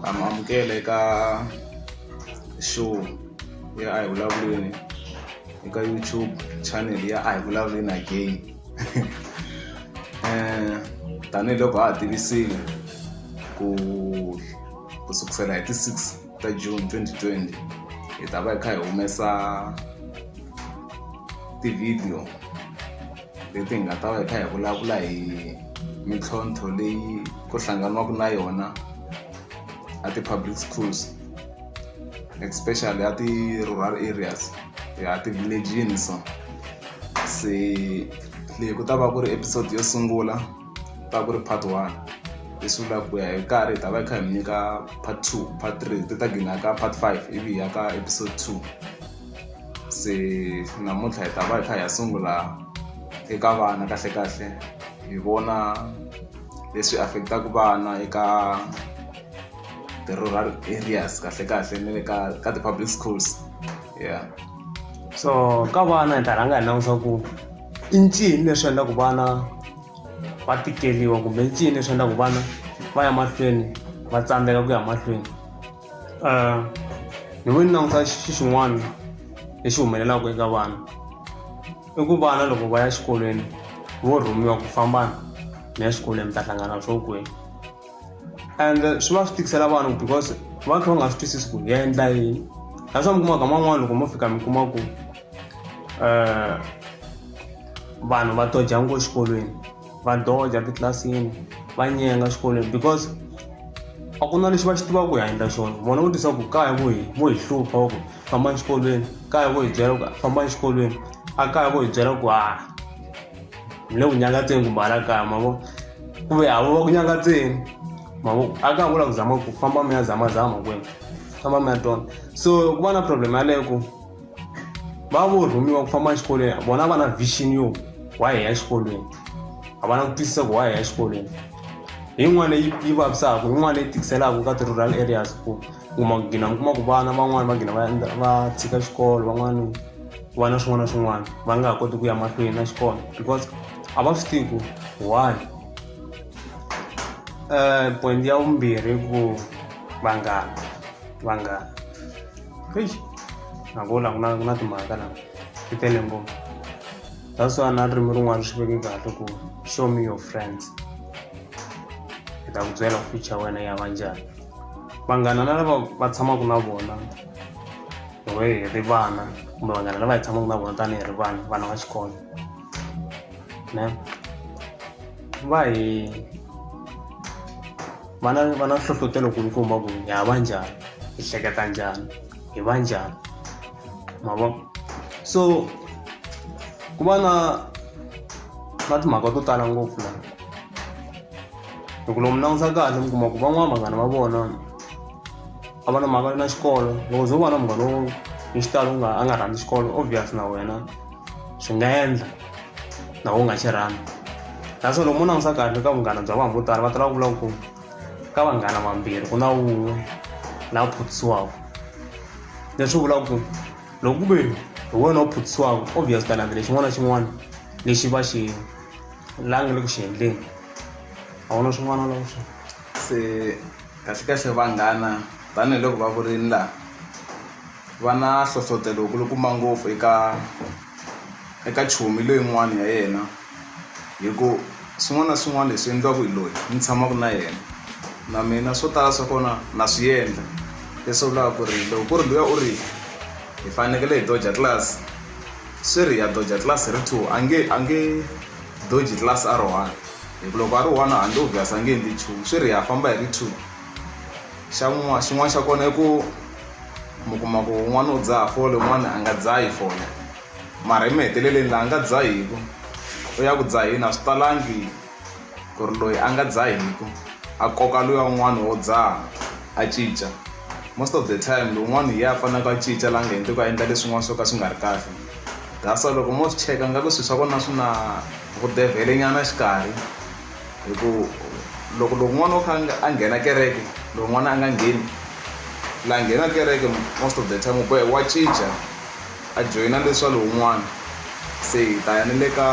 ha mi amukela eka show ya a hi vulavuleni eka youtube channel ya a hi vulavuleni again um tanihiloko ha ha tivisile ku ku sukusela hi ti-six ta june 2020 hi ta va hi kha hi humesa ti-video leti hi nga ta va hi kha hi vulavula hi mintlhontlho leyi ku hlanganiwaka na yona a ti-public schools especially a ti-rural areas ya ti-village-ini so se leyi ku ta va ku ri episode yo sungula ta ku ri part one leswi vulaka ku ya hi karhi hi ta va hi kha hi mi nyika part two part three ti ta gina ka part five ivi hi ya ka episode two se namuntlha hi ta va hi kha hi ya sungula eka vana kahlekahle hi vona leswi affect-aka vana eka ti-rural areas kahlekahle na le ka ka ti-public schools ya so ka vana hi ta rhanga hi langusa ku i ncini leswi endlaku vana va tikeliwa kumbe i ncini leswi endlaku vana va ya mahlweni va tsandzeka ku ya mahlweni ni ve ni languta xi xin'wana lexi humelelaku eka vana i ku vana loko va ya xikolweni vo rhumiwa ku famba ni ya xikolweni mi ta hlangana swo kweni and swi va swi tikisela vana ku because va kha va nga swi twisisi ku hi endla yini that's why mi kumaka man'wani loko mo fika mi kuma ku um vanhu va toja ngo xikolweni va doja titlilasini va nyenga xikolweni because a ku na lexi va xi tivaka ku ya endla xona vona vo tisa ku kaya vo hi vo hi hlupha va ku famba exikolweni kaya vo hi byela ku famba exikolweni a kaya vo hi byela ku ha hi le ku nyangatseni kumbe hala kaya mavo ku ve havo va ku nyangatseni mavo a kaya vo lava ku zama ku famba mi ya zamazama kwena famba mi ya tona so ku va na problem yaleyo ku va vo rhumiwa ku famba exikolweni a vona va na vision yo wa hi ya exikolweni a va na ku twisisa ku wa hi ya exikolweni hi yin'wana leyi yi vavisaka yin'wana leyi tikiselaka ka ti-rural areas ku kuma ku gina mi kuma ku vana van'wani va gina va endla va tshika xikolo van'wani ku va na swin'wana na swin'wana va nga ha koti ku ya mahlweni na xikolo because a va swi tivi ku why um point ya vumbirhi ku vanghana vanghana Eish, nakula ku na ku na timhaka la ti tele ngopfu that's why na ririmi rin'wana swi veke kahle ku show me your friends hi ta ku byela future wena ya va njhani vanghana na lava va tshamaka na vona hi we hi ri vana kumbe vanghana lava hi tshamaka na vona tanihi ri vana vana va xikolo ne va hi va na va na nhlohlotelo kulukumba ku hi hava njhani hi hleketa njhani hi va njhani ma vo so ku va na na timhaka to tala ngopfu la loko lomu langutisa kahle mi kuma ku van'wana vanghana va vona a va na mhaka na xikolo loko ze u va na munghana wo hi xitalo nga a nga rhandzi xikolo obvious na wena swi nga endla na u nga xi rhandzi naswona loko mo langusa kahle ka vunghana bya vanhu vo tala va tala ku vula ku ka vanghana vambirhi ku na wun'we la phuthisiwaka leswi vulaka ku loko ku ve hi wena u phuthisiwaka obvious ta landzela xin'wana na xin'wana lexi va xi langi le ku xi endleni a wu na swin'wana loko swi se Kahlekahle vanghana, tanihi loko va vurile laha, va na nhlohlotelo wu kulukumba ngopfu eka eka chomi loyin'wana ya yena hi ku swin'wana na swin'wana leswi endliwaka hi loyi ni tshamaka na yena na mina swo tala swa kona na swi endla leswi vulaka ku ri loko ku ri luya u ri hi fanekele hi doja class swi ri ya doja class ri two a nge a nge doji class a ri one hi ku loko a ri one handle u vyasa nge endli nchumu swi ri ha famba hi ri two xa n'wana xin'wana xa kona i ku mi kuma ku un'wana u dzaha fole un'wana a nga dzahi fole mara emaheteleleni laha nga dzahiku u ya ku dzaheni a swi talangi ku ri loyi a nga dzahiku a koka luya un'wana wo dzaha a cinca most of the time lowun'wana hi ye a faneleke a cinca laha nga hendleki a endla leswin'wana swo ka swi nga ri kahle Gasa loko mo swi cheka nga ku swi swa kona swi na vudevhele nyana xikarhi hi ku loko loko n'wana wo kha a nghena kereke loko n'wana a nga ngheni la nghena kereke most of the time u bohe wa cinca a joyina leswa lowun'wana se hi ta ya ni le ka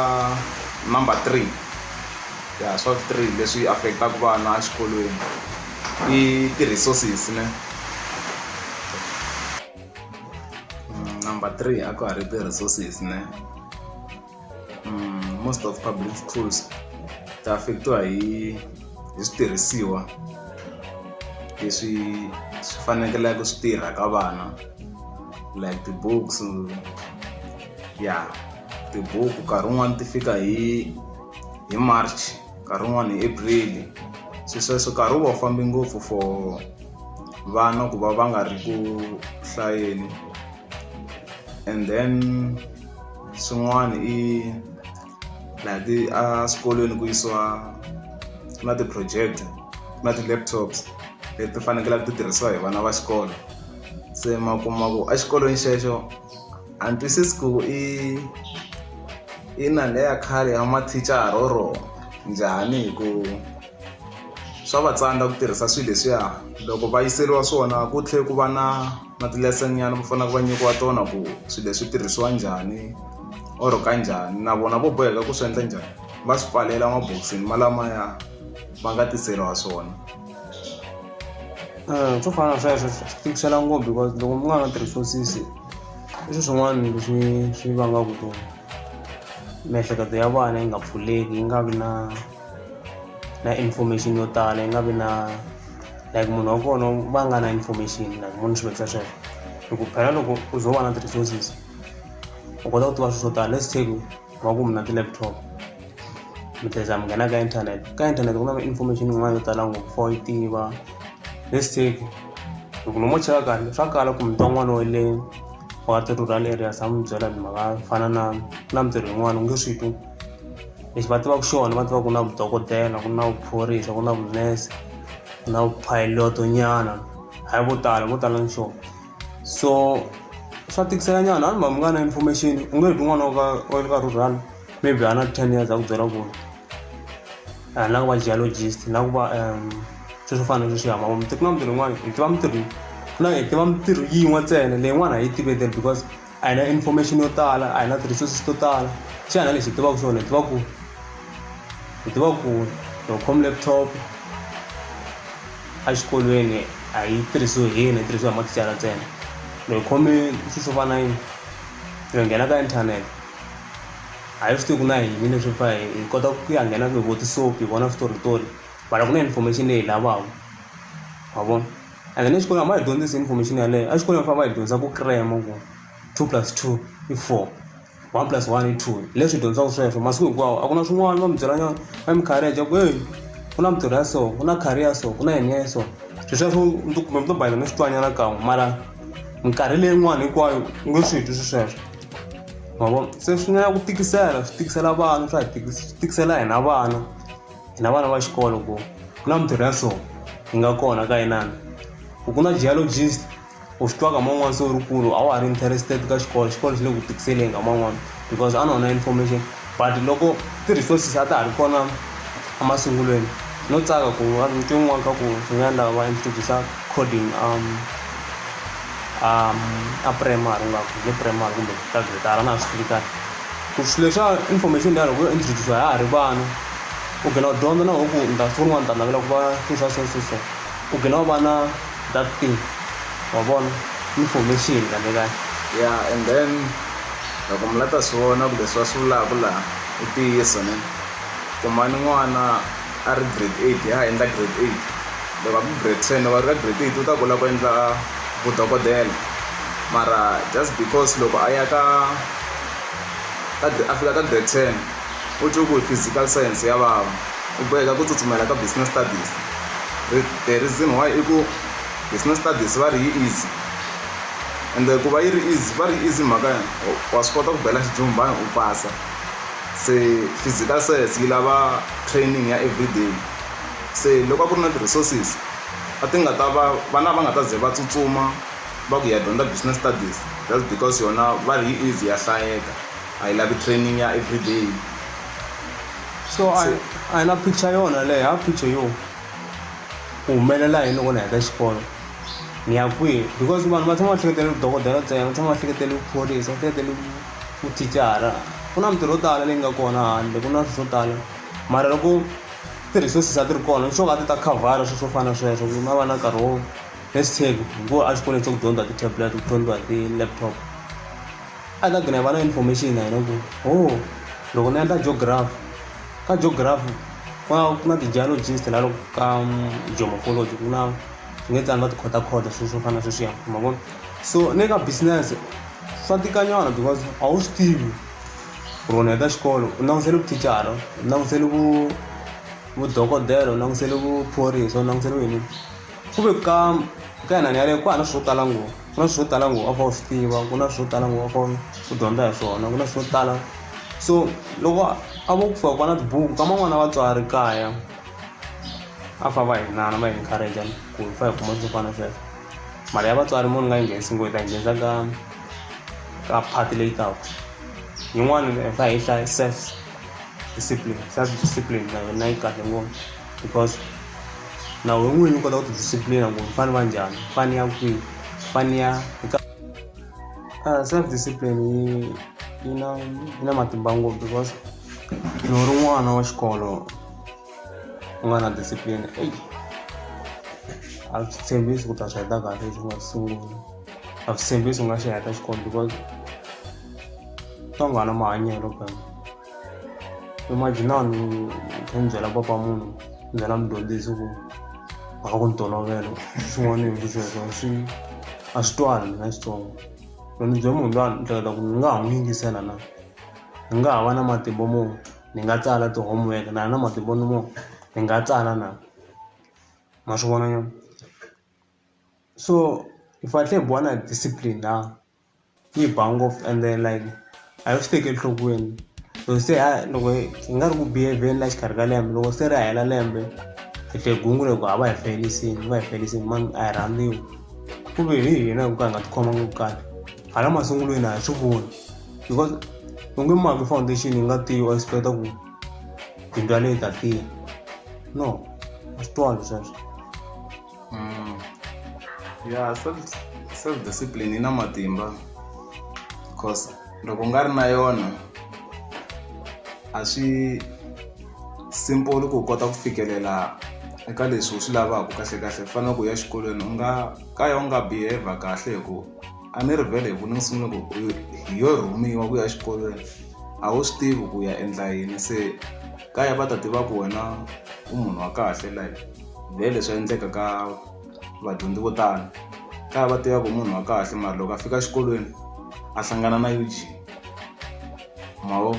number three ya swa vu three leswi affect-aku vana exikolweni i ti-resources ne. Mm, number three a ku ha ri ti-resources ne mm, most of public schools ta affectiwa hi hi switirhisiwa leswi swi fanekeleke swi tirha ka vana like ti-books ya tibuku nkarhi wun'wani ti fika hi hi march nkarhi wun'wani hi April se sweswo nkarhi wu va wu fambe ngopfu for vana ku va va nga ri ku hlayeni and then swin'wani i laha ti a swikolweni ku yisiwa na ti-project na ti-laptops leti fanekelaka ti tirhisiwa hi vana va xikolo se ma kuma ku exikolweni xexo a ni twisisi ku i i nanga ya khale ya mathicara or njhani hi ku swa va tsandza ku tirhisa swilo leswiya loko va yiseriwa swona ku tlhela ku va na na ti-lesson nyana va faneleke va nyikiwa tona ku swilo leswi tirhisiwa njhani or ka njhani na vona vo boheka ku swi endla njhani va swi pfalela mabokisini malamaya va nga tiseriwa swona swo fana na sweswo swi tikisela ngopfu because loko mi nga ha tirhisiwa sisi I swilo swin'wana leswi swi vangaka ku miehleketo ya vana yi nga pfuleki yi nga vi na na information yo tala yi nga vi na like munhu wa kona va nga na information like munhu xiviri xa sweswo hi ku phela loko u ze u va na ti-resources u kota ku tiva swilo swo tala let's take. wa ku mina ti-laptop mi tlheza mi nghena ka internet ka internet ku na information yin'wana yo tala ngopfu for yi tiva let's take loko lomo cheka kahle swa kala ku mita n'wana wa le wa ti-rural areas a mi byela mhaka fana na na mintirho yin'wana u nge swi twi lexi va tivaka xona va tiva ku na vudokodela ku na vuphorisa ku na vunese ku na vuphayilotonyana hayi vo tala vo tala ni xona so swa tikisela nyana vanhu va mi nga na information u nge heti n'wana wa le ka rural maybe a na ten years a ku byela ku ri a ni lava ku va geologist ni lava ku va um swi swo fana na sweswi hama muteki na mintirho yin'wana hi tiva mintirho ku na hi tiva mintirho yin'we ntsena leyin'wana a yi tivete because a hi na information yo tala a hi na ti-resources to tala swi ya na lexi hi tivaka swona hi tiva ku hi tiva ku loko khome laptop exikolweni a yi tirhisiwi hi yini yi tirhisiwa hi mathicara ntsena loko hi khome swilo swo fana yini hi nghena ka inthanete a hi swi tivi ku na yini leswi fa hi kota ku ya nghena ku hi vo tisopi hi vona switoritori mara ku na information leyi hi lavaka wa vona. and then exikolweni a va hi dyondzisi information yaleyo exikolweni va fanele va hi dyondza ku crema ku two plus two i four one plus one i two leswi dyondzaka sweswo masiku hinkwawo a ku na swin'wana va mi byela nyana va mi kharija ku eyi ku na mitirho ya so ku na khari ya so ku na yini ya so swi sweswo mi to kumbe mi to bayela mi swi twanyana kan'we mara minkarhi leyin'wana hinkwayo u nge swi twi swi sweswo ma vo se swi nga ya ku tikisela swi tikisela vana swa hi swi tikisela hina vana hina vana va xikolo ku ku na mintirho ya so yi nga kona ka inana ku ku na geologist u swi twaka man'wana se u ri kulu a wa ha ri interested ka xikolo xikolo xi le ku tikiseleni ka man'wana because a na wona information but loko ti-resources a ta ha ri kona emasungulweni no tsaka ku a ni twe n'wana ka ku swi nga endla va introduce coding um um a primary ingaku hi le primary kumbe ka gretara a na ha swi tivi kahle. ku swilo swa information ya loko yo introduce ha ha ri vana u gina u dyondza na hoku ni ta siku rin'wana ni ta navela ku va swi swa so so so u gina u va na that thing wa vona information kahle kahle ya and then loko mi la ta swi vona kumbe swi va swi vulaka laha i ntiyiso ne kumani n'wana a ri grade eight a ha endla grade eight loko a ku grade ten loko a ri ka grade eight u ta kula ku endla vudokodela mara just because loko a ya ka ka a fika ka grade ten u twe ku hi physical science ya vava u boheka ku tsutsumela ka business studies the reason why i ku business studies va ri yi easy ende ku va yi ri easy va ri easy mhaka ya wa swi kota ku bela xijumbana u pasa se physical science yi lava training ya everyday se loko a ku ri na ti-resources a ti nga ta va vana va nga ta ze va tsutsuma. va ku hi ya dyondza business studies just because yona va ri yi easy ya hlayeka a yi lavi training ya everyday so a hi- a hi na picture yona leyi ha picture yo ku humelela yini loko ni heta xikolo ni ya kwihi because vanhu va tshama va hleketele vudokodela ntsena va tshama va hleketele vuphorisa va hleketele vu- vuthicara ku na mintirho yo tala leyi nga kona handle ku na swilo swo tala mara loko ti-resources a ti ri kona nxoka a ti ta khavhara swilo swo fana na sweswo ku na va na nkarhi wo first take ngo a xikolweni xa ku dyondza ti-tablet ku dyondziwa ti-laptop a ta gina hi va na information na hina ku ho oh, loko ni endla geography ka geography ku na ku na ti-geologist la loko ka um, geomorphology ku na swi nge tani va tikhota khota swilo swo fana na sweswiya ma vona so ni ka business swa tikanyana because a wu swi tivi rona eka xikolo u langutisele vuthicara u langutisele vu vudokodela u langutisele vuphorisa u langutisele yini ku ve ka ka yena ni yaleyo ku hava na swilo swo tala ngopfu ku na swilo swo tala ngopfu a fa u swi tiva ku na swilo swo tala ngopfu a fa u dyondza hi swona ku na swilo swo tala so loko a vo ku fika ku va na tibuku ka man'wana na vatswari kaya a fa va hi nana va hi encourage ku hi fa hi kuma swo fana sweswo mali ya vatswari mo ni nga yi nghenisi ngo hi ta yi nghenisa ka ka phati leyi taka yin'wana hi fa hi hlaya self discipline self discipline na yona yi kahle ngopfu because na wena n'wini u kota ku tidisciplina ku ni fanele va njhani ni fanele ya kwihi ni fanele ya ah, self discipline yi yi na yi na matimba ngopfu because ni ri n'wana wa xikolo u nga na discipline eyi a swi tshembisi ku ta swi heta kahle leswi nga sungula a swi tshembisi u nga xi heta xikolo because ka nghana mahanyelo kaya imagina ni kha ni byela papa munhu ni byela mudyondzisi ku mhaka ku ni tolovela swin'wana ni yingi sweswo swi a swi twani na xitsongo loko ni bye munhu lwani ni hleketa ku ni nga ha n'wi yingisela na ni nga ha va na matimba mo ni nga tsala ti-homework na na matimba ni mo ni nga tsala na ma swi vona nyana so hi fanele hi buwa na discipline laha yi ba ngopfu ende like a yi swi teki enhlokweni so se a loko hi nga ri ku behaveni la xikarhi ka lembe loko se ri hela lembe hi hle gungu loko a va hi felisini va hi felisini mani a hi rhandziwi ku ve hi hina hi ku ka hi nga tikhoma ngopfu kahle hala masungulweni a hi swi voni because u nge maki foundation yi nga tiyi u expecta ku bindzu yaleyi ta tiya no a swi twali sweswo Mm. ya self, self discipline yi na matimba because loko u nga ri na yona a swi simple ku u kota ku fikelela eka leswi u swi lavaka kahle kahle ku fanele ku ya xikolweni u nga ka ya u nga behave kahle hi ku a ni ri vhele hi ku ni ni sungule ku u- hi yo rhumiwa ku ya xikolweni a wu swi tivi ku ya endla yini se kaya va ta tiva ku wena u munhu wa kahle like hi leswi endleka ka vadyondzi vo tala ka va tivaka munhu wa kahle mara loko a fika exikolweni a hlangana na ug mawo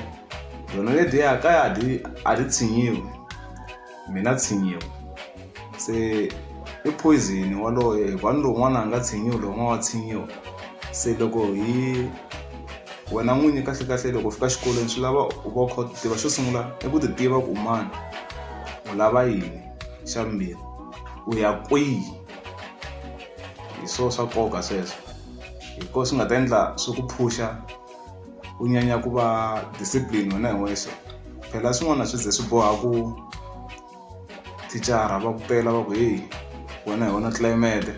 yona lediya kaya a ti a ti tshinyiwi mina tshinyiwa se i poison waloye hikuva ni lowun'wana a nga tshinyiwi lowun'wana wa tshinyiwa se loko hi wena n'winyi kahlekahle loko u fika xikolweni swi lava u va u kha u ti tiva xo sungula i ku ti tiva ku u mani. u lava yini xa vumbirhi u ya kwihi hi swo swa nkoka sweswo hi ko swi nga ta endla swi ku phusha u nyanya ku va discipline wena hi wexe phela swin'wana swi ze swi boha ku thicara va ku pela va ku heyi wena hi wona tlilayimete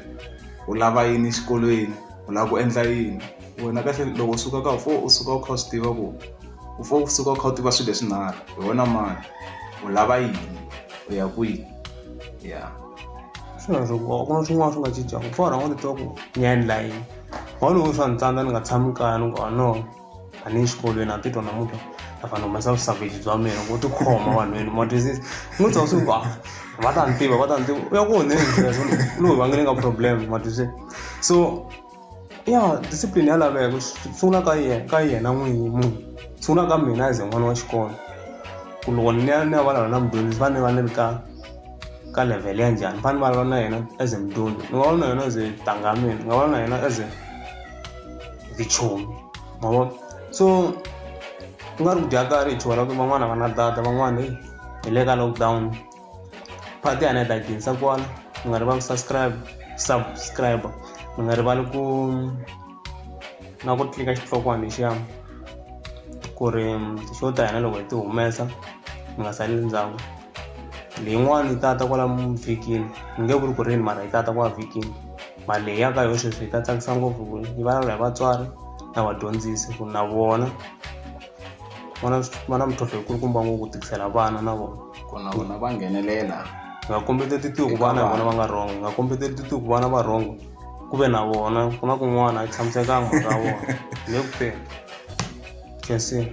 u lava yini exikolweni u lava ku endla yini wena kahle loko u suka ka u fo u suka u kha u swi tiva ku u fo u suka u kha u tiva swilo leswinharhu hi wena mani u lava yini u ya kwihi ya swin'wana swo nkoka ku na swin'wana swi nga cincaka pfa rhanga ni twa ku ni ya endla yini wona loko swa ni tsandza ni nga tshami kaya ni ku a no a ni exikolweni a titwa namuntlha a fanele humesa vusavage bya mina ku tikhoma vanhwini ma twisisa ni twa swi va va ta ni tiva va ta ni tiva u ya ku onheni loyi va nge ni nga problem ma twisisa so ya discipline ya laveka ku sungula ka yena ka yena n'winyi munhu sungula ka mina as n'wana wa xikolo ku loko ni ya ni ya vulavula na mudyondzisi va ni va ni ri ka ka level ya njhani fane va lava na yena as a mdoni ni nga va na yena as a tangamini ni nga va na yena as a vichomi ma vona so ku nga ri ku dya karhi hi chuha ra ku van'wana a va na data van'wana hi le ka lockdown part ya hina yi ta ginisa kona mi nga rivali ku subscribe subscribe mi nga rivali ku na ku tlika xitlokwana lexiya ku ri xo ta hina loko hi ti humesa mi nga sali ndzhaku leyin'wana yi tata kwala vhikini ni nge vuli ku ri yini mara yi tata kwala vhikini mara leyi ya ka yo sweswi yi ta tsakisa ngopfu ku yi vulavula hi vatswari na vadyondzisi ku na vona vona va na mintlhontlho yi kulukumba ngopfu ku tikisela vana na vona ku na vona va nghenelela nga kombeteli titiko vana hi vona va nga rhongo nga kombeteli titiko vana va rhongo ku ve na vona ku na kun'wana a yi tshamisekanga mhaka ya vona le ku feni kensini